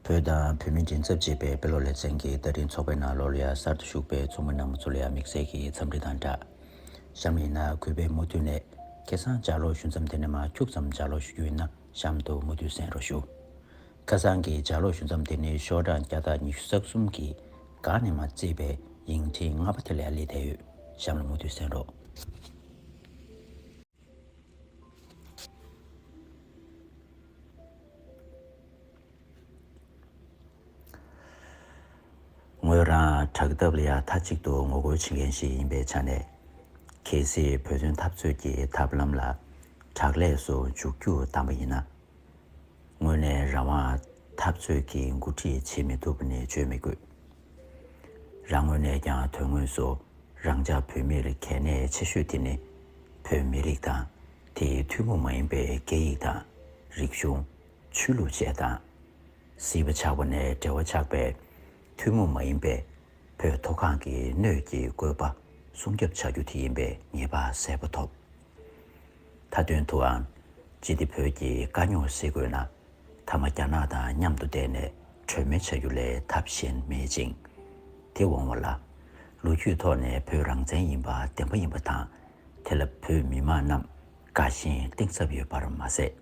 བོད་དང་བོད་མི་མགྲིན་ཚབ་བྱེད་པའི་དཔེ་ཀློག་ལེ་ཚན་གྱི་བསྟར་འཕྲིན་ཚོགས་པའི་ནང་ལོ་རེར་གསར་དུ་ཞུགས་པའི་ཚོགས་མི་རྣམས་ཚོ་ལ་ཡང་དམིགས་བསལ་གྱི་འཚམས་འདྲི་དང་སྦྲགས། གཤམ་ཡིན་ན་གུས་པས་མུ་མཐུད་ནས་ཁེ་སང་ལྗགས་ཀློག་ཞུ་མཚམས་དེ་ནས་མ་འཁྱུག་ཙམ་ལྗགས་ཀློག་ཞུ་རྒྱུ་ཡིན་ན་གཤམ་དུ་མུ་མཐུད་གསན་རོགས་ཞུ། ཁ་སང་གི་ལྗགས་ཀློག་ཞུ་མཚམས་དེ་ནི་ཤོག་གྲངས་བརྒྱ་དང་ཉི་ཤུ་རྩ་གསུམ་གྱི་སྒང་ནས་མ་བརྩིས་པའི་ཡིག་འཕྲིན་ལྔ་པ་དེ་ལ་ཡང་སླེབས་བསྡད་ཡོད་གཤམ་ལ་མུ་མཐུད་གསན་རོགས། ངོས་རང་དྲག་སྟབས་ལ་ཡ་མཐའ་གཅིག་ཏུ་ངོ་རྒོལ་བྱེད་མཁན་ཞིག་ཡིན་པའི་ཆ་ནས། གལ་སྲིད་བོད་དོན་འཐབ་རྩོད་ཀྱི་ཐབས་ལམ་ལ་དྲག་ལས་སུ་འཇུག་རྒྱུ་དམ་པ་ཡིན་ན། དངོས་གནས་རང་དབང་འཐབ་རྩོད་ཀྱི་འགོ་ཁྲིད་བྱེད་མི་ཐུབ་པ་ནི་བརྗོད་མི་དགོས། རང་ངོས་ནས་ཀྱང་དོན་དངོས་སུ་རང་ཅག་བོད་མིར་གལ་གནད་ཆེ་ཤོས་དེ་ནི་བོད་མི་རིགས་དང་དེའི་ཐུན་མོང་མ་ཡིན་པའི་སྐད་ཡིག་དང་རིག་གཞུང། ཆོས་ལུགས་བཅས་དང། སྲིད་པ་ཆགས་པ་ནས་འབྲེལ་བ་ཆགས་པའི་ཐུན་མོང་མ་ཡིན་པའི་བོད་མཐོ་སྒང་གི་སྣོད་ཀྱི་བཀོད་པ་སྲུང་སྐྱོབ་བྱ་རྒྱུ་དེ་ཡིན་པའི་ངེས་པ་གསལ་པོ་ཐོབ། མཐའ་དོན་དུའང། ཅི་སྟེ་བོད་ཀྱི་དཀའ་རྙོག་སེལ་དགོས་ན། མཐའ་མ་རྒྱ་ནག་དང་མཉམ་དུ་བསྡད་ནས་གྲོས་མོལ་བྱ་རྒྱུ་ལས་ཐབས་གཞན་མེད་ཅིང། དེ་འོང་བ་ལ། ལོ་རྒྱུས་ཐོག་ནས་བོད་རང་བཙན་ཡིན་པ་བདེན་པ་ཡིན་པ་དང། དེ་ལ་བོད་མི་མང་རྣམས་དགའ་ཞེན་གཏིང་ཟབ་ཡོད་པར་མ་ཟད།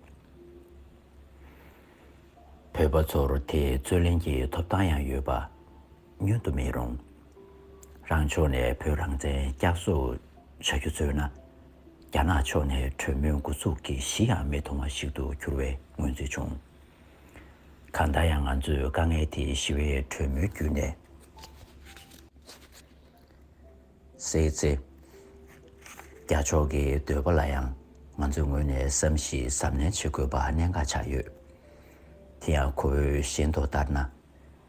བོད་པ་ཚོར་དེའི་རྩོད་ལེན་གྱི་ཐོབ་ཐང་ཡང་ཡོད་པ། ཉོན་དུ་མི་རུང། རང་ཕྱོགས་ནས་བོད་རང་བཙན་བསྐྱར་གསོ་བྱ་རྒྱུ་བརྩོད་ན། རྒྱ་ནག་ཕྱོགས་ནས་གྲོས་མོལ་འགོ་ཚུགས་ཀྱི་གཞི་ཡང་མི་མཐོང་བ་ཞིག་ཏུ་གྱུར་བའི་མངོན་ཚུལ་བྱུང། གང་ལྟར་ཡང་ང་ཚོས་དཀའ་ངལ་དེ་ཞི་བའི་གྲོས་མོལ་བརྒྱུད་ནས་སེལ་ཚེ། རྒྱ་ཕྱོགས་ཀྱི་འདོད་པ་ལ་ཡང་ང་ཚོའི་ངོས་ནས་བསམ་གཞིགས་གཟབ་ནན་བྱེད་དགོས་པ་གནད་འགག་ཆགས་ཡོད། དེ་ཡང་ཁོ་བོའི་ཞེན་རྟོག་ལྟར་ན།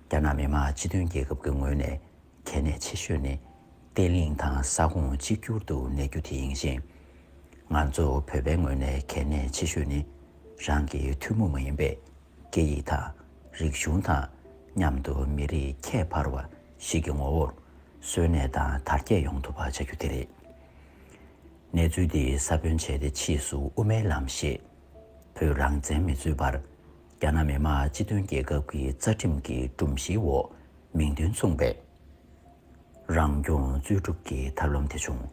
རྒྱ་ནག་མི་དམངས་སྤྱི་མཐུན་རྒྱལ་ཁབ་ཀྱི་ངོས་ནས་གལ་གནད་ཆེ་ཤོས་ནི་བརྟན་ལྷིང་དང་ས་ཁོངས་གཅིག་གྱུར་དུ་གནས་རྒྱུ་དེ་ཡིན་ཞིང། ང་ཚོ་བོད་པའི་ངོས་ནས་གལ་གནད་ཆེ་ཤོས་ནི་རང་གི་ཐུན་མོང་མ་ཡིན་པའི་སྐད་ཡིག་དང་རིག་གཞུང་དང་མཉམ་དུ་མི་རིགས་ཁྱད་འཕར་བ་ཞིག་གི་ངོ་བོར་གསོན་གནས་དང་དར་རྒྱས་ཡོང་ཐུབ་པ་བྱ་རྒྱུ་དེ་རེད། གནས་ཚུལ་འདི་ས་བོན་བྱས་ཏེ་ཕྱིས་སུ་དབུ་མའི་ལམ་ཞེས་བོད་རང་བཙན་མི་རྩོད་པར། རྒྱ་ནག་མི་དམངས་སྤྱི་མཐུན་རྒྱལ་ཁབ་ཀྱི་རྩ་ཁྲིམས་ཀྱི་སྒྲོམ་གཞིའི་འོག་མིང་དོན་མཚུངས་པའི་རང་སྐྱོང་རྩོད་སྒྲུབ་ཀྱི་ཐབས་ལམ་དེ་བྱུང།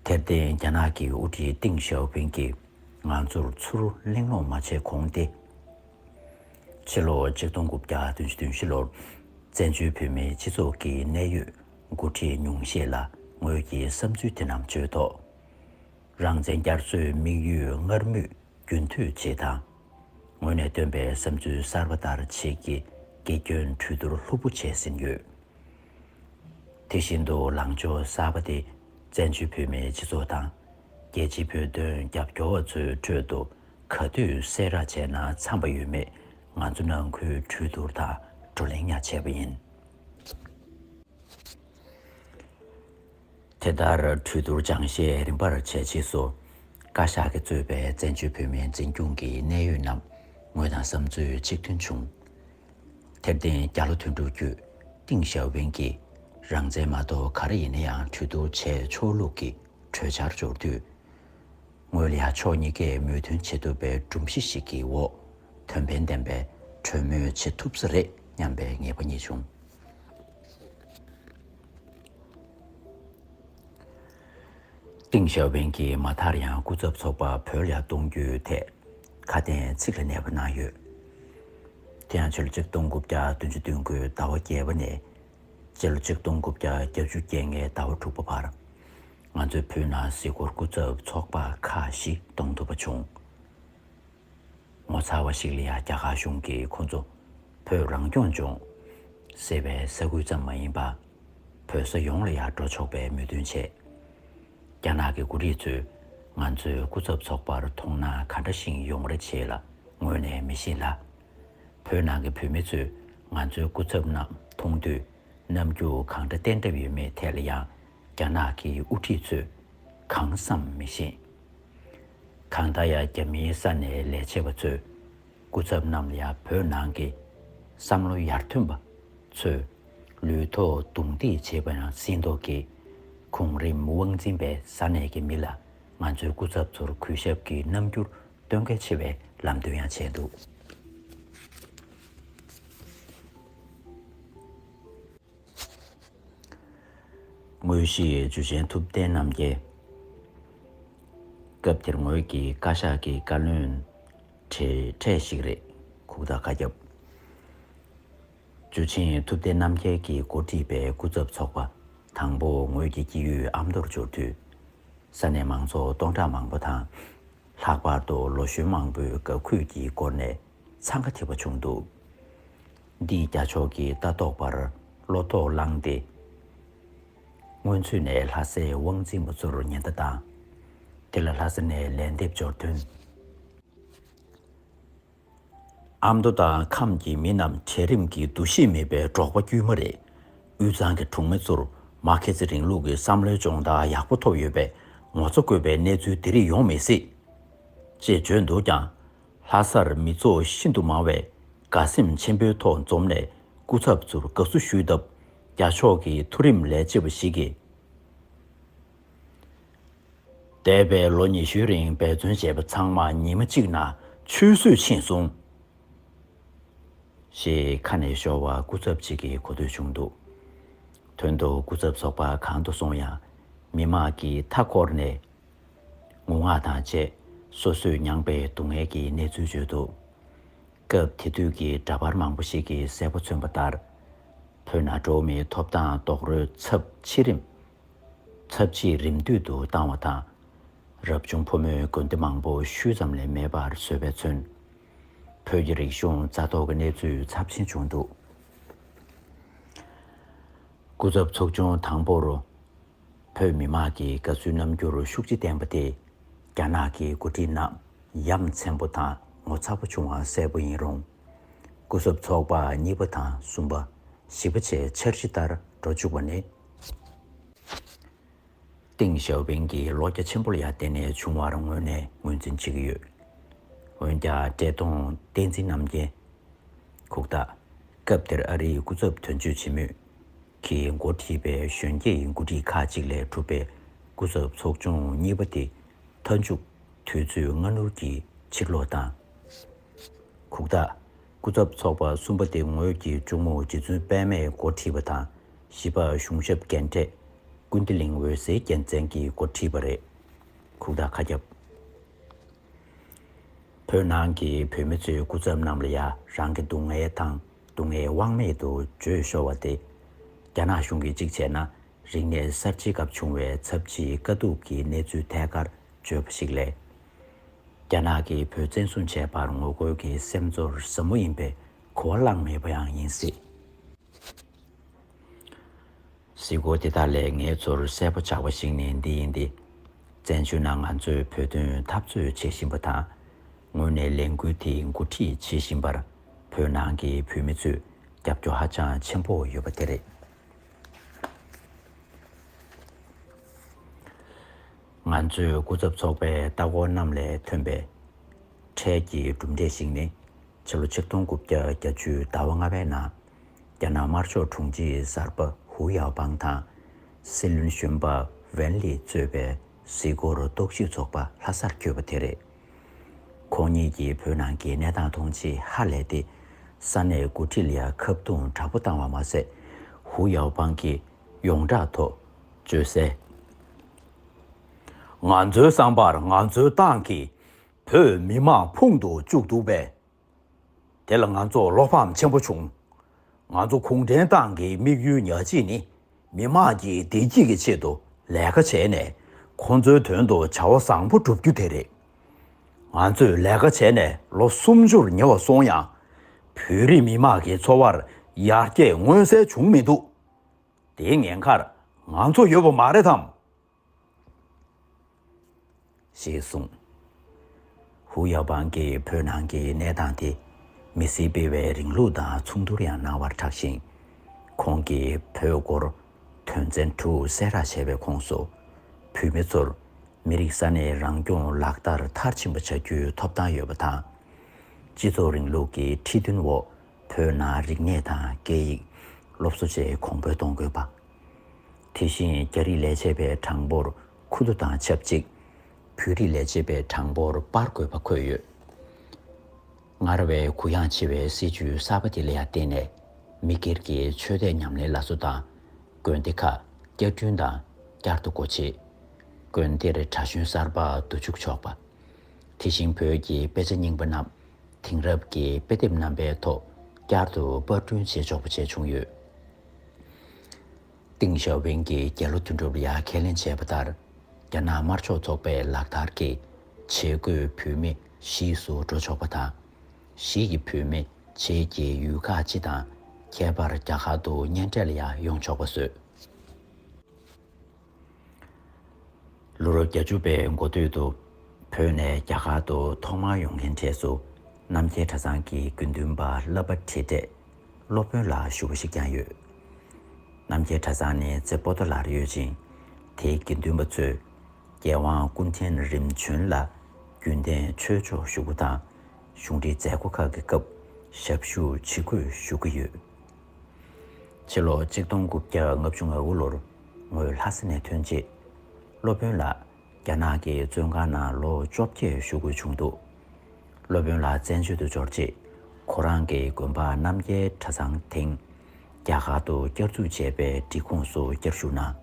དེར་བརྟེན་རྒྱ་ནག་གི་དབུ་ཁྲིད་ཏིང་ཞའོ་ཕིང་གིས་ང་ཚོར་ཚུར་གླེང་སློང་མ་བྱས་གོང་སྟེ། ཕྱི་ལོ་གཅིག་སྟོང་དགུ་བརྒྱ་དོན་བཞི་དོན་བཞི་ལོར་བཙན་བྱོལ་བོད་མིའི་སྤྱི་ཚོགས་ཀྱི་གནད་ཡོད་མགོ་ཁྲིད་ཉུང་ཤས་ལ་ངོས་ཀྱི་བསམ་ཚུལ་དེ་རྣམས་བརྗོད་ཐོག། རང་བཙན་བསྐྱར་གསོའི་དམིགས་ཡུལ་སྔར་མུས་རྒྱུན་མཐུད་བྱེད་དང། ངོས་ནས་བཏོན་པའི་བསམ་ཚུལ་གསར་པ་ལྟར་བྱེད་ཀྱི་དགེ་སྐྱོན་གྲོས་བསྡུར་ལྷུག་པོ་བྱས་ཟིན་ཡོད། དེ་བཞིན་དུ་ལངས་ཕྱོགས་གསར་པ་དེ་བཙན་བྱོལ་བོད་མིའི་སྤྱི་ཚོགས་དང་རྒྱལ་སྤྱིའི་བོད་དོན་རྒྱབ་སྐྱོར་བ་ཚོའི་ཁྲོད་དུ་ག་དུས་གསལ་བསྒྲགས་བྱས་ན་འཚམ་པ་ཡོད་མེད་ང་ཚོ་ནང་ཁུལ་གྲོས་བསྡུར་དང་བགྲོ་གླེང་ཡང་བྱས་པ་ཡིན། དེ་ལྟར་གྲོས་བསྡུར་སྦྱང་བཤད་རིམ་པར་བྱས་རྗེས་སུ། བཀའ་ཤག་གིས་གཙོས་པའི་བཙན་བྱོལ་བོད་མིའི་འཛིན་སྐྱོང་གི་གནད་ཡོད་རྣམས་ངོས་དང་བསམ་ཚུལ་གཅིག་མཐུན་བྱུང། དེར་བརྟེན་རྒྱ་ལོ་དོན་དྲུག་བརྒྱུད་ཏིང་ཞའོ་ཕིང་གིས་རང་བཙན་མ་གཏོགས་ག་རེ་ཡིན་ན་ཡང་གྲོས་བསྡུར་བྱས་ཆོག་ལུགས་ཀྱི་གྲོས་འཆར་འབྱོར་དུས། ངོས་ལ་ཡང་ཕྱོགས་གཉིས་ཀས་མོས་མཐུན་བྱེད་ཐུབ་པའི་སྒྲོམ་གཞི་ཞིག་གི་འོག་དོན་ཕན་ལྡན་པའི་གྲོས་མོལ་བྱེད་ཐུབ་ས་རེད་སྙམ་པའི་ངེས་པ་རྙེད་བྱུང། ཏིང་ཞའོ་ཕིང་གིས་མ་མཐར་ཡང་སྐུ་ཚབ་ཚོགས་པ་བོད་ལ་གཏོང་རྒྱུའི་ཐད་ཁ་གཏན་ཚིགས་ལ་གནས་པ་གནང་ཡོད། དེ་ཡང་ཕྱི་ལོ་ཆིག་སྟོང་དགུ་བརྒྱ་བདུན་ཅུ་སྟོན་དགུའི་ཟླ་བ་བརྒྱད་པ་ནས་སྤྱི་ལོ་ཆིག་སྟོང་དགུ་བརྒྱ་བརྒྱད་བཅུ་རྒྱལ་ལྔའི་ཟླ་བ་དྲུག་པ་བར་ང་ཚོའི་བོད་ནང་གཟིགས་སྐོར་སྐུ་ཚབ་ཚོགས་པ་ཁག་ཞིག་གཏོང་ཐུབ་པ་བྱུང། ངོ་མཚར་བ་ཞིག་ལ་ཡང་རྒྱ་གར་གཞུང་གིས་ཁོང་ཚོ་བོད་རང་སྐྱོང་ལྗོངས་ཟེར་བའི་ས་ཁུལ་ཙམ་མ་ཡིན་པར་བོད་ས་ཡོངས་ལ་ཡང་འགྲོ་ཆོག་པའི་མོས་མཐུན་བྱས། རྒྱ་ནག་གི་མགོ་རིགས་ཚོས་ང་ཚོའི་སྐུ་ཚབ་ཚོགས་པར་མཐོང་ན་ག་འདྲ་ཞིང་ཡོང་རེ་བྱེད་ལ་ངོ་ནས་མི་ཤེས་ལ། བོད་ནང་གི་བོད་མི་ཚོས་ང་ཚོའི་སྐུ་ཚབ་རྣམས་མཐོང་དུས་རྣམ་འགྱུར་གང་འདྲ་བསྟན་གྲབས་ཡོད་མེད་ཐད་ལ་ཡང་རྒྱ་ནག་གི་དབུ་ཁྲིད་ཚོས་གང་བསམ་མི་ཤེས། གང་ལྟར་ཡང་རྒྱ་མིའི་ས་ནས་ལས་བྱེད་པ་ཚོས་སྐུ་ཚབ་རྣམས་ལ་བོད་ནང་གི་བསམ་བློ་ཡར་ཐོན་པ་ཚོས་ལུས་ཐོག་རྡུང་རྡེག་བྱེད་པ་ཡང་སྲིད་མདོག་གིས་གོང་རིམ་དབང་འཛིན་པའི་ས་ནས་ཀྱི་མི་ལ་ང་ཚོའི་སྐུ་ཚབ་ཚོར་གུས་ཞབས་ཀྱི་རྣམ་འགྱུར་སྟོན་གལ་ཆེ་བའི་ལམ་སྟོན་ཡང་བྱས་འདུག། དངོས་གཞི་འཇུ་ཆེན་ཐུབ་བསྟན་རྣམ་རྒྱལ། སྐབས་དེར་ངོས་ཀྱི་བཀའ་ཤག་གི་བཀའ་བློན་གྲས་གྲས་ཤིག་རེད། ཁུག་རྟ་བཀའ་ཁྱབ། འཇུ་ཆེན་ཐུབ་བསྟན་རྣམ་རྒྱལ་གྱི་འགོ་ཁྲིད་པའི་སྐུ་ཚབ་ཚོགས་པ་དང་པོ་ངོས་ཀྱི་སྐྱིད་ཡུལ་ཨ་མདོར་འབྱོར་དུས། ས་གནས་མང་ཚོགས་སྟོང་ཕྲག་མང་པོ་དང། ལྷག་པར་དུ་ལོ་གཞོན་མང་པོས་དགའ་གུས་ཀྱི་སྒོ་ནས་འཚང་ཁ་འཐེབ་པ་བྱུང་འདུག། འདིས་རྒྱ་ཕྱོགས་ཀྱི་ལྟ་རྟོག་པར་བློ་དོགས་བསླངས་ཏེ། སྔོན་ཚུད་ནས་ལྷ་སའི་དབང་འཛིན་པ་ཚོར་ཉེན་བརྡ་བཏང། དེ་ལ་ལྷ་ས་ནས་ལན་འདེབས་འབྱོར་དོན། ཨ་མདོ་དང་ཁམས་ཀྱི་མི་རྣམས་གྲལ་རིམ་གྱི་འདུ་ཤེས་མེད་པའི་འབྲོག་པ་དཀྱུས་མ་རེད། དབུས་གཙང་གི་གྲོང་མི་ཚོར་མར་ཁེ་སི་རིང་ལུགས་ཀྱི་བསམ་བློའི་སྦྱོང་བརྡར་ཡག་པོ་ཐོབ་ཡོད་པས་ངོ་ཚ་དགོས་པའི་གནས་ཚུལ་དེ་རིགས་ཡོང་མི་སྲིད། ཅེས་བརྗོད་འདུག་ཀྱང། ལྷ་སར་མི་ཚོགས་ཤིན་ཏུ་མང་བས་དགའ་སེམས་ཆེན་པོའི་ཐོག་འཛོམས་ནས་སྐུ་ཚབ་ཚོར་དགའ་བསུ་ཞུས་སྟབས་རྒྱ་ཕྱོགས་ཀྱི་མཐོ་རིམ་ལས་བྱེད་པ་ཞིག་གིས། འདས་པའི་ལོ་ཉི་ཤུའི་རིང་འབད་བརྩོན་བྱས་པ་ཚང་མ་ཉིན་མ་གཅིག་ན་ཆུད་ཟོས་ཕྱིན་སོང། ཞེས་ཁ་ནས་ཤོར་བ་སྐུ་ཚབ་ཅིག་གིས་གོ་ཐོས་བྱུང་འདུག་དོན་དུ་སྐུ་ཚབ་ཚོགས་པ་གང་དུ་སོང་ཡང་མི་དམངས་ཀྱིས་མཐའ་འཁོར་ནས། ངུ་ངག་དང་བཅས་སོ་སོས་མྱངས་པའི་སྡུག་བསྔལ་གྱི་གནས་ཚུལ་བརྗོད་འདུག་སྐབས་དེ་དུས་ཀྱི་འདྲ་པར་མང་པོ་ཞིག་གིས་གསལ་པོ་མཚོན་པ་ལྟར། བོད་ན་འགྲོ་བ་མིའི་ཐོབ་ཐང་རྡོག་རོལ་ཚབས་ཆེ་རིམ་ཚབས་ཆེ་རིམ་བསྟུད་དུ་བཏང་བ་དང། རབ་བྱུང་ཕོ་མོའི་དགོན་སྡེ་མང་པོ་ཤུལ་ཙམ་ལས་མེད་པར་བཟོས་པས་མཚོན། བོད་ཀྱི་རིག་གཞུང་རྩ་གཏོར་གྱི་གནས་ཚུལ་ཚབས་ཆེན་བྱུང་འདུག་སྐུ་ཚབ་ཚོགས་ཆུང་དང་པོར་བོད་མི་དམངས་ཀྱི་དགའ་བསུའི་རྣམ་འགྱུར་ཤུགས་ཆེ་བསྟན་པ་དེ། རྒྱ་ནག་གི་འགོ་ཁྲིད་རྣམས་ཡ་མཚན་པོ་དང་ངོ་ཚ་པོ་བྱུང་བ་གསལ་པོ་ཡིན་རུང། སྐུ་ཚབ་ཚོགས་པ་གཉིས་པ་དང་གསུམ་པ། བཞི་པ་བཅས་འཆར་གཞི་ལྟར་འགྲོ་བཅུག་པ་ནི། ཏིང་ཞའོ་ཕིང་གི་ལོ་བརྒྱ་ཆེན་པོ་ལ་ཡར་བརྟེན་ནས་བྱུང་བར་ངོས་ནས་ངོས་འཛིན་བྱེད་ཀྱི་ཡོད། འོན་ཀྱང་བཀྲས་མཐོང་བསྟན་འཛིན་རྣམ་རྒྱལ། ཁུག་རྟ། སྐབས་དེར་ཨ་རིའི་སྐུ་ཚབ་དོན་གཅོད་བྱེད་མུས། གིས་འགོ་ཁྲིད་པའི་གཞོན་སྐྱེས་ཡི་འགོ་ཁྲིད་ཁག་ཅིག་ལས་གྲུབ་པའི་སྐུ་ཚབ་ཚོགས་ཆུང་གཉིས་པ་དེ་མཐའ་མཇུག་དུས་ཚོད་སྔ་སྣུར་གྱིས་ཕྱིར་ལོག་བཏང། ཁུག་རྟ། སྐུ་ཚབ་ཚོགས་པ་གསུམ་པ་དེ་ངོས་ཀྱི་གཅུང་མོ་རྗེ་བཙུན་དཔལ་མས་འགོ་ཁྲིད་པ་དང་བཞི་པ་གཞུང་ཞབས་རྒན་གྲས་ཀུན་བདེ་གླིང་འོད་ཟེར་རྒྱལ་མཚན་གྱིས་འགོ་ཁྲིད་པ་རེད། ཁུག་རྟ་ཁ་རྒྱབ། བོད་ནང་གི་བོད་མི་ཚོའི་སྐུ་ཚབ་རྣམས་ལ་ཡང་རང་གི་སྡུག་བསྔལ་དང། སྡུག་བསྔལ་དབང་མེད་དུ་བརྗོད་ཤོར་བ་སྟེ། རྒྱ་ནག་གཞུང་གིས་གཅིག་བྱས་ན་རིག་གནས་གསར་བརྗེའི་སྐབས་བྱུང་བའི་ཚབས་ཆེའི་དཀའ་སྡུག་གི་གནས་ཚུལ་ཐད་ཀར་བརྗོད་པ་ཞིག་ལས། རྒྱ་ནག་གིས་བོད་བཙན་བཟུང་བྱས་པར་ངོ་རྒོལ་གྱི་སེམས་ཚོར་ཟབ་མོ་ཡིན་པའི་གོ་བ་བླངས་མེད་པ་ཡང་ཡིན་སྲིད། གཟིགས་སྐོར་དེ་དག་ལས་ངའི་ཚོར་གསལ་པོ་ཆགས་པ་ཞིག་ནི་འདི་ཡིན་ཏེ། བཙན་བྱོལ་ནང་ང་ཚོས་བོད་དོན་འཐབ་རྩོད་བྱེད་བཞིན་པ་དང། ངོས་ནས་ལས་འགུལ་དེ་འགོ་ཁྲིད་བྱེད་བཞིན་པར་བོད་ནང་གི་བོད་མི་ཚོས་རྒྱབ་སྐྱོར་ཧ་ཅང་ཆེན་པོ་ཡོད་པ་དེ་རེད། ང་ཚོས་སྐུ་ཚབ་ཚོགས་པའི་ལྟ་སྐོར་རྣམས་ལས་ཐོན་པའི་འཕྲལ་གྱི་གྲུབ་འབྲས་ཤིག་ནི། ཕྱི་ལོ་ཆིག་སྟོང་དགུ་བརྒྱ་གྱ་བཅུའི་ཟླ་བ་ལྔ་པའི་ནང་རྒྱ་ནག་དམར་ཕྱོགས་དྲུང་ཆེ་གསར་པ་ཧུའུ་ཡའོ་པང་དང། སྲིད་བློན་གཞོན་པ་ཝན་ལིས་གཙོས་པའི་གཟིགས་སྐོར་རྟོག་ཞིབ་ཚོགས་པ་ལྷ་སར་བསྐྱོད་པ་དེ་རེད། ཁོང་གཉིས་ཀྱིས་བོད་ནང་གི་གནས་སྟངས་མཐོང་ཆེས་ཧ་ལས་ཏེ། ས་གནས་འགོ་ཁྲིད་ལ་ཁ་བརྡུང་དྲག་པོ་བཏང་བ་མ་ཟད། ཧུའུ་ཡའོ་པང་གིས་ཡོངས་བསྒྲགས་ཐོག་བརྗོད་གསལ། ང་ཚོའི་བསམ་པར་ང་ཚོའི་ཏང་གིས་བོད་མི་དམག་ཕུང་དུ་བཅུག་འདུག་པས་དེ་ལ་ང་ཚོར་བློ་ཕམ་ཆེན་པོ་བྱུང། ང་ཚོ་གུང་ཁྲན་ཏང་གི་དམིགས་ཡུལ་ཉག་གཅིག་ནི་མི་དམངས་ཀྱི་བདེ་སྐྱིད་ཀྱི་ཆེད་དུ་ལས་ཀ་བྱས་ནས་ཁོང་ཚོའི་དོན་དུ་བྱ་བ་བཟང་པོ་བསྒྲུབ་རྒྱུ་དེ་རེད། ང་ཚོས་ལས་ཀ་བྱས་ནས་ལོ་སུམ་ཅུར་ཉེ་བ་སོང་ཡང། བོད་རིགས་མི་དམངས་ཀྱི་འཚོ་བར་ཡར་རྒྱས་མངོན་གསལ་བྱུང་མི་འདུག་དེའི་ངན་ཁར་ང་ཚོ་ཡོད་པ་མ་རེད་དམ། ཞེས་གསུངས། ཧུའུ་ཡའོ་པང་གིས་བོད་ནང་གི་གནས་སྟངས་དེ་མི་སྲིད་སྤེལ་བའི་རིང་ལུགས་དང་མཚུངས་བསྡུར་ཡང་གནང་བར་གྲགས་ཤིང། ཁོང་གིས་བོད་སྐོར་དོན་ཚན་དྲུག་གསལ་བསྒྲགས་བྱས་པའི་ཁོངས་སུ། བོད་མི་ཚོར་མི་རིགས་ས་གནས་རང་སྐྱོང་ལག་བསྟར་མཐར་ཕྱིན་པ་བྱ་རྒྱུའི་ཐོབ་ཐང་ཡོད་པ་དང། སྤྱི་ཚོགས་རིང་ལུགས་ཀྱི་ཁྲིད་སྟོན་འོག་བོད་ནང་རིག་གནས་དང་སྐད་ཡིག་སློབ་གསོ་བཅས་གོང་འཕེལ་གཏོང་དགོས་པ། དེ་བཞིན་རྒྱ་རིགས་ལས་བྱེད་པའི་གྲངས་འབོར་ཁུ་བསྡུ་དང་ཆབས་ཅིག་བོད་རིགས་ལས་བྱེད་པའི་གྲངས་འབོར་སྤར་དགོས་པ་འཁོད་ཡོད། སྔར་བས་གུ་ཡངས་ཆེ་བའི་སྲིད་ཇུས་གསར་པ་དེ་ལ་བརྟེན་ནས་མི་སྒེར་གྱི་ཆོས་དད་ཉམས་ལེན་ལ་བཟོ་དང། དགོན་སྡེ་ཁག་བསྐྱར་སྐྲུན་དང་བསྐྱར་དུ་སྒོ་ཕྱེ། དགོན་སྡེར་གྲྭ་གཞོན་གསར་པ་བསྡུ་བཅུག་ཆོག་པ། དེ་བཞིན་བོད་ཀྱི་དཔེ་ཆ་རྙིང་པ་རྣམས་དེང་རབས་ཀྱི་དཔེ་དེབ་རྣམ་པའི་ཐོག་བསྐྱར་དུ་དཔར་སྐྲུན་བྱེད་ཆོག་པ་བྱས་བྱུང་ཡོད། ཏིང་ཞའོ་ཝེང་གིས་རྒྱལ་ལོ་དོན་གྲུབ་ལ་ཁས་ལེན་བྱས་པ་ལྟར། རྒྱ་ནག་དམར་ཕྱོགས་ཚོགས་པས་ལག་བསྟར་གྱི་བྱེད་སྒོས་བུད་མེད་གཞིས་སུ་འགྲོ་ཆོག་པ་དང། གཞིས་ཀྱི་བུད་མེད་བྱེས་ཀྱི་ཡུལ་ཁག་སྤྱི་དང་ཁྱད་པར་རྒྱ་གར་དུ་གཉེན་འཕྲད་ལ་ཡང་ཡོང་ཆོག་པ་བཟོས། ལོ་རབས་བརྒྱ་བཅུ་པའི་འགོ་སྟོད་དུ། བོད་ནས་རྒྱ་གར་དུ་ཐོག་མར་ཡོང་མཁན་གྲས་སུ། རྣམ་རྒྱལ་གྲྭ་ཚང་གི་དགེ་འདུན་པ་བསླབ་པ་ཁྲིད་གྲས་སློབ་དཔོན་ལ་ཞུ་བ་ཞིག་ཀྱང་ཡོད། རྣམ་རྒྱལ་གྲྭ་ཚང་ནི་རྩེ་པོ་ཏོ་ལར་ཡོད་ཅིང། དེའི་དགེ་འདུན་པ་ཚོས་རྒྱལ་དབང་ཀུན་ཕྲན་རིམ་བྱོན་ལ་རྒྱུན་གཏན་ཆོས་ཕྱོགས་ཞུ་སྒོ་དང་གཞུང་འབྲེལ་མཛད་སྒོ་ཁག་གི་སྐབས་ཞབས་ཞུ་ཇི་དགོས་ཞུ་གི་ཡོད། ཕྱི་ལོ་གཅིག་སྟོང་དགུ་བརྒྱ་ལྔ་བཅུ་ང་དགུ་ལོར། ངོས་ལྷ་ས་ནས་ཐོན་རྗེས། སློབ་དཔོན་ལ་རྒྱ་ནག་གི་བཙོན་ཁང་ནང་ལོ་བཅོ་བརྒྱད་བཞུགས་དགོས་བྱུང་འདུག་སློབ་དཔོན་ལ་བཙན་བྱོལ་དུ་འབྱོར་རྗེས། ཁོ་རང་གི་དགོན་པ་རྣམ་རྒྱལ་གྲྭ་ཚང་དེང་རྒྱ་གར་དུ་བསྐྱར་འཛུགས་བྱས་པའི་སྒྲིག་ཁོངས་སུ་བསྐྱར་ཞུགས་གནང།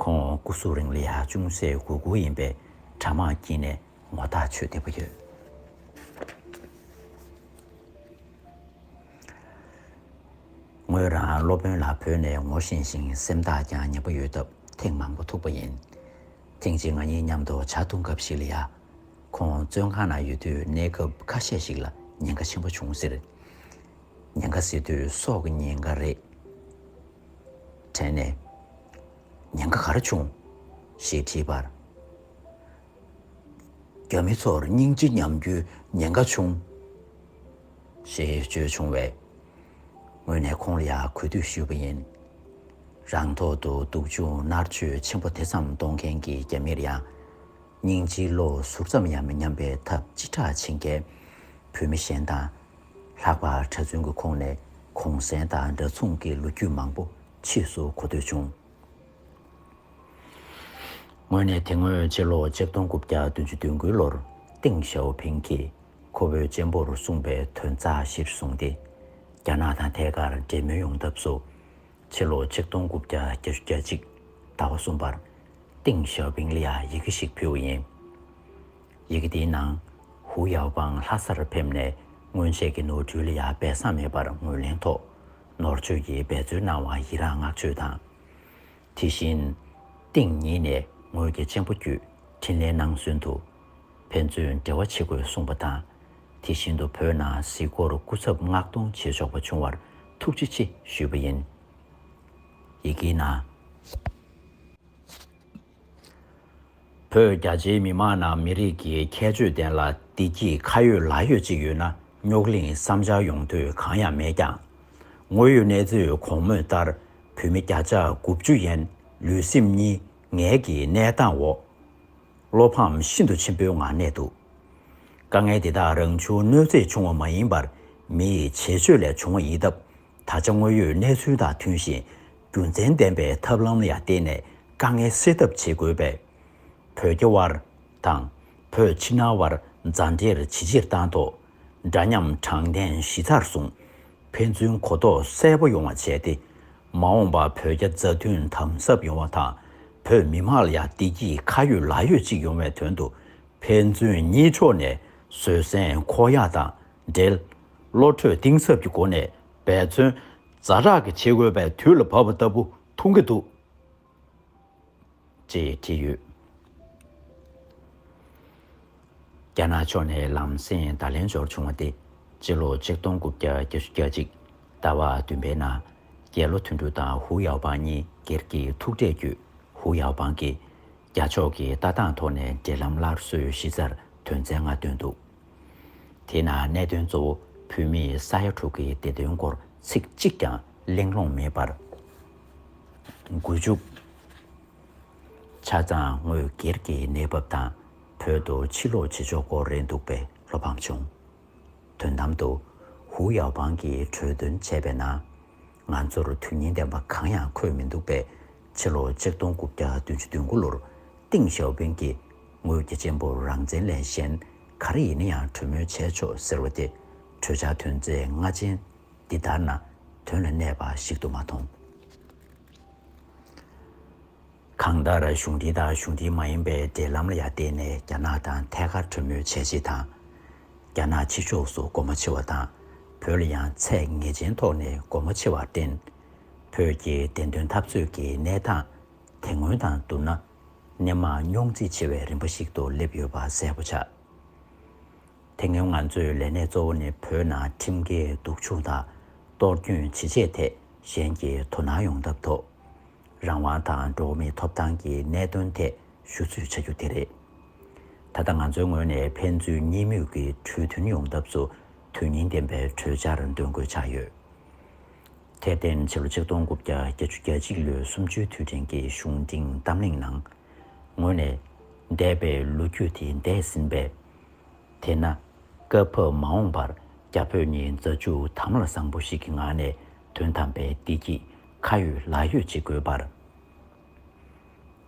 ཁོང་སྐུ་གཟུགས་རིང་ལི་ཧ་ཅུང་ཟད་གུ་གུ་ཡིན་པས་གྲྭ་དམག་དཀྱིལ་ནས་ངོ་ཐག་ཆོད་བདེ་པོ་ཡོད། ངོས་རང་སློབ་དཔོན་ལ་བོས་ནས་ངོ་ཤེས་ཤིང་སེམས་ཐག་ཀྱང་ཉེ་པོ་ཡོད་སྟབས་ཐེངས་མང་པོ་ཐུག་པ་ཡིན། ཐེངས་གཅིག་ང་གཉིས་མཉམ་དུ་བྱ་འཐུང་སྐབས་ཤིག་ལ་ཡ། ཁོང་བཙོན་ཁང་ན་ཡོད་དུས་གནས་སྐབས་ཁ་ཤས་ཤིག་ལ་ཉེན་ཁ་ཆེན་པོ་བྱུང་ཟེར། ཉེན་ཁ་ཟེར་དུས་སྲོག་གི་ཉེན་ཁ་རེད། དྲན་ནས། ཉེན་ཁ་ག་རེ་བྱུང། ཞེས་དྲིས་པར། རྒྱ་མི་ཚོར་སྙིང་རྗེ་ཉམས་རྒྱུའི་ཉེན་ཁ་ཆུང། ཞེས་བརྗོད་བྱུང་བས། ངོས་ནས་ཁོང་ལ་ཡང་གུས་འདུད་ཞུས་པ་ཡིན། རང་ཐོག་ཏུ་སྡུག་སྦྱོང་མནར་གཅོད་ཆེན་པོ་དེ་ཙམ་གཏོང་མཁན་གྱི་རྒྱ་མིར་ཡང། སྙིང་རྗེའི་བློ་ཟུར་ཙམ་ཡང་མི་ཉམས་པའི་ཐབས་ཅི་དྲག་བྱེད་མཁན་བོད་མི་གཞན་དང། ལྷག་པར་གྲྭ་བཙུན་གྱི་ཁོངས་ནས་གུང་གསེང་དང་འདྲ་མཚུངས་ཀྱི་ལོ་རྒྱུས་མང་པོ་ཕྱིས་སུ་གོ་ཐོས་བྱུང། ངོས་ནས་དེ་སྔོན་སྤྱི་ལོ་ཆིག་སྟོང་དགུ་བརྒྱ་བདུན་ཅུ་བདུན་དགུའི་ལོར་ཏིང་ཞའོ་ཕིང་གིས་ཁོ་བོའི་གཅེན་པོར་གསུངས་པའི་དོན་རྩ་གཞིར་བཟུང་སྟེ། རྒྱ་ནག་དང་ཐད་ཀར་འབྲེལ་མོལ་ཡོང་ཐབས་སུ། ཕྱི་ལོ་ཆིག་སྟོང་དགུ་བརྒྱ་བརྒྱད་ཅུ་གྱ་གཅིག་ཟླ་བ་གསུམ་པར་ཏིང་ཞའོ་ཕིང་ལ་ཡི་གེ་ཞིག་ཕུལ་བ་ཡིན། ཡི་གེ་དེའི་ནང་ཧུའུ་ཡའོ་པང་ལྷ་སར་ཕེབས་ནས་སྔོན་ཆད་ཀྱི་ནོར་འཁྲུལ་ལ་ཡང་སྦས་གསང་མེད་པར་ངོས་ལེན་ཐོག་ནོར་མཆོད་ཀྱིས་འབད་རྩོལ་གནང་བར་ཡི་རངས་བསྔགས་བརྗོད་དང། དེ་བཞིན། སྟེང་ཉིད་ནས་ངོས་དགེ་ཆེན་པོ་བརྒྱུད་འཕྲིན་ལས་གནང་ཚུན་དུ། ཕན་ཚུན་འབྲེལ་བ་བྱེད་དགོས་གསུངས་པ་དང། དེ་བཞིན་དུ་བོད་ནང་གཟིགས་སྐོར་སྐུ་ཚབ་མངགས་གཏོང་བྱེད་ཆོག་པ་བྱུང་བར་ཐུགས་རྗེ་ཆེ་ཞུས་པ་ཡིན། ཡི་གེའི་ནང། བོད་རྒྱ་ཆེའི་མི་མང་ནང་མི་རིགས་ཀྱི་ཁྱད་ཆོས་ལྡན་ལ་བདེ་སྐྱིད་ཁ་ཡོད་ལག་ཡོད་ཅིག་ཡོད་ན་རྙོག་གླིང་བསམ་འཆར་ཡོང་དུས་གང་ཡང་མེད་ཀྱང། དངོས་ཡོད་གནས་ཚུལ་གོང་སྨོས་ལྟར་བོད་མི་བརྒྱ་ཆ་དགུ་བཅུ་ཡན་ལུས་སེམས་གཉིས་ངལ་གྱི་གནས་སྟངས་འོག་བློ་ཕམ་ཤིན་ཏུ་ཆེན་པོའི་ངང་གནས་འདུག་དཀའ་ངལ་འདི་དག་རང་བྱུང་གནོད་འཚེ་བྱུང་བ་མ་ཡིན་པར་མི་ཡི་བྱེད་སྤྱོད་ལས་བྱུང་བ་ཡིན་སྟབས་ད་ཆ་དངོས་ཡོད་གནས་ཚུལ་དང་མཐུན་ཞིང་རྒྱུ་མཚན་ལྡན་པའི་ཐབས་ལམ་ལ་ཡང་བརྟེན་ནས་དཀའ་ངལ་སེལ་ཐབས་བྱེད་དགོས་པས། བོད་རྒྱ་དབར་དང། བོད་ཕྱི་ནང་དབར་མཛའ་འབྲེལ་ཇེ་ཆེར་བཏང་ཐོག་འདྲ་མཉམ་དྲང་བདེན་གཞི་རྩར་བཟུང། ཕན་ཚུན་གོ་རྟོགས་གསལ་པོ་ཡོང་བ་བྱས་ཏེ། མ་འོངས་པར་བོད་རྒྱ་མཛའ་མཐུན་དམ་ཟབ་ཡོང་བ་དང་བོད་མི་དམངས་ལ་ཡང་བདེ་སྐྱིད་ཁ་ཡོད་ལག་ཡོད་ཅིག་ཡོང་བའི་དོན་དུ་ཕན་ཚུན་གཉིས་ཕྱོགས་ནས་བཟོད་བསྲན་ཁོག་ཡངས་དང་འབྲེལ་བློ་གྲོས་གཏིང་ཟབ་ཀྱི་སྒོ་ནས་འབད་བརྩོན། རྫ་དྲག་གི་བྱེད་དགོས་པའི་དུས་ལ་བབ་པ་ལྟ་བུ་མཐོང་གི་འདུག། ཅེས་བྲིས་ཡོད། རྒྱ་ནག་ཕྱོགས་ནས་ལམ་སེང་བརྡ་ལན་འབྱོར་བྱུང་བ་དེ་སྤྱི་ལོ་ཆིག་སྟོང་དགུ་བརྒྱ་བརྒྱད་ཅུ་གྱ་གཅིག་ཟླ་བ་བདུན་པའི་ནང་རྒྱལ་ལོ་དོན་དྲུག་དང་ཧུའུ་ཡའོ་པང་གཉིས་སྒེར་གྱི་ཐུག་འཕྲད་བརྒྱུད་ཧུའུ་ཡའོ་པང་གིས་རྒྱ་ཕྱོགས་ཀྱི་ལྟ་སྟངས་ཐོག་ནས་འབྲེལ་ལམ་སླར་གསོའི་གཞི་རྩར་དོན་ཚན་ལྔ་བཏོན་འདུག། དེས་ན་གནད་དོན་གཙོ་བོ་བོད་མིའི་ས་ཡ་དྲུག་གི་བདེ་དོན་སྐོར་ཚིག་གཅིག་ཀྱང་གླེང་སློང་མེད་པར་འགོ་བཙུགས། ཆ་ཚང་དངོས་སྒེར་གྱི་གནས་བབ་དང་བོད་དུ་ཕྱིར་ལོག་བྱེད་ཕྱོགས་སྐོར་རེད་འདུག་པས་བློ་ཕམ་བྱུང། དོན་དམ་དུ། ཧུའུ་ཡའོ་པང་གིས་གྲོས་འདོན་བྱས་པའི་ནང། ང་ཚོར་དོན་སྙིང་ལྡན་པ་གང་ཡང་འཁོད་མི་འདུག་པས་ཕྱིར་ལོག་ཆིག་སྟོང་དགུ་བརྒྱ་བདུན་ཅུ་བདུན་དགུ་ལོར་ཏིང་ཞའོ་ཕིང་གིས་ངོས་རྒྱ་ཆེན་པོ་རང་བཙན་ལས་གཞན་ག་རེ་ཡིན་ན་ཡང་གྲོས་མོལ་བྱས་ཆོག་ཟེར་བ་དེ་གྲོས་འཆར་ཐོན་རྫས་ལྔ་ཅན་འདི་ལྟར་ན་དོན་ལ་གནས་པ་ཞིག་ཏུ་མ་མཐོང། གང་ལྟར་གཞུང་འདི་དང་གཞུང་འདི་མ་ཡིན་པའི་འབྲེལ་ལམ་ལ་ཡང་བརྟེན་ནས་རྒྱ་ནག་དང་ཐད་ཀར་གྲོས་མོལ་བྱས་རྗེས་དང། རྒྱ་ནག་ཕྱི་ཕྱོགས་སུ་སྒོ་མོ་ཕྱེ་བ་དང་བོད་ལ་ཡང་ཚད་ངེས་ཅན་ཐོག་ནས་སྒོ་མོ་ཕྱེ་བར་བརྟེན། བོད་ཀྱི་བདེན་དོན་འཐབ་རྩོད་ཀྱི་གནས་སྟངས་དེ་སྔོན་དང་བསྡུར་ན་ནས་མང་རྙོག་འཛིང་ཆེ་བའི་རིམ་པ་ཞིག་ཏུ་སླེབས་ཡོད་པ་གསལ་པོ་ཆགས། དེ་སྔོན་ང་ཚོའི་ལས་གནས་གཙོ་བོ་ནི་བོད་ནང་ཁྲིམས་འགལ་སྡུག་སྦྱོང་དང་གཏོར་སྐྱོན་ཇི་བྱས་ཐད་གཞན་གྱིས་དོ་སྣང་ཡོང་ཐབས་ཐོག་རང་དབང་དང་འགྲོ་བ་མིའི་ཐོབ་ཐང་གི་གནད་དོན་ཐད་ཞུ་ཚུལ་བྱ་རྒྱུ་དེ་རེད། ད་ལྟ་ང་ཚོའི་ངོས་ནས་ཕན་ཚུན་གཉིས་མོས་ཀྱི་གྲོས་མཐུན་ཡོང་ཐབས་སུ་དོན་སྙིང་ལྡན་པའི་གྲོས་འཆར་འདོན་དགོས་ཆགས་ཡོད། དེར་བརྟེན་ཕྱི་ལོ་ཆིག་སྟོང་དགུ་བརྒྱ་བརྒྱད་ཅུ་གྱ་གཅིག་ལོའི་སུམ་ཅུའི་དུས་དྲན་གྱི་གཞུང་འབྲིང་གཏམ་གླེང་ནང། ངོས་ནས། འདས་པའི་ལོ་རྒྱུས་དེ་འདས་ཟིན་པས། དེས་ན། སྐབས་བབས་མ་འོངས་པར་རྒྱ་བོད་གཉིས་མཛའ་གཅུགས་དམ་ལ་བཟང་པོ་ཞིག་གི་ངང་ནས་དོན་དམ་པའི་བདེ་སྐྱིད་ཁ་ཡོད་ལག་ཡོད་ཅིག་དགོས་པར།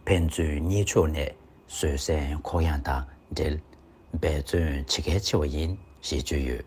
ཕན་ཚུན་གཉིས་ཕྱོགས་ནས་བཟོད་བསྲན་ཁོག་ཡངས་དང་འབྲེལ་འབད་བརྩོན་བྱེད་གལ་ཆེ་བ་ཡིན་ཞེས་བརྗོད་ཡོད།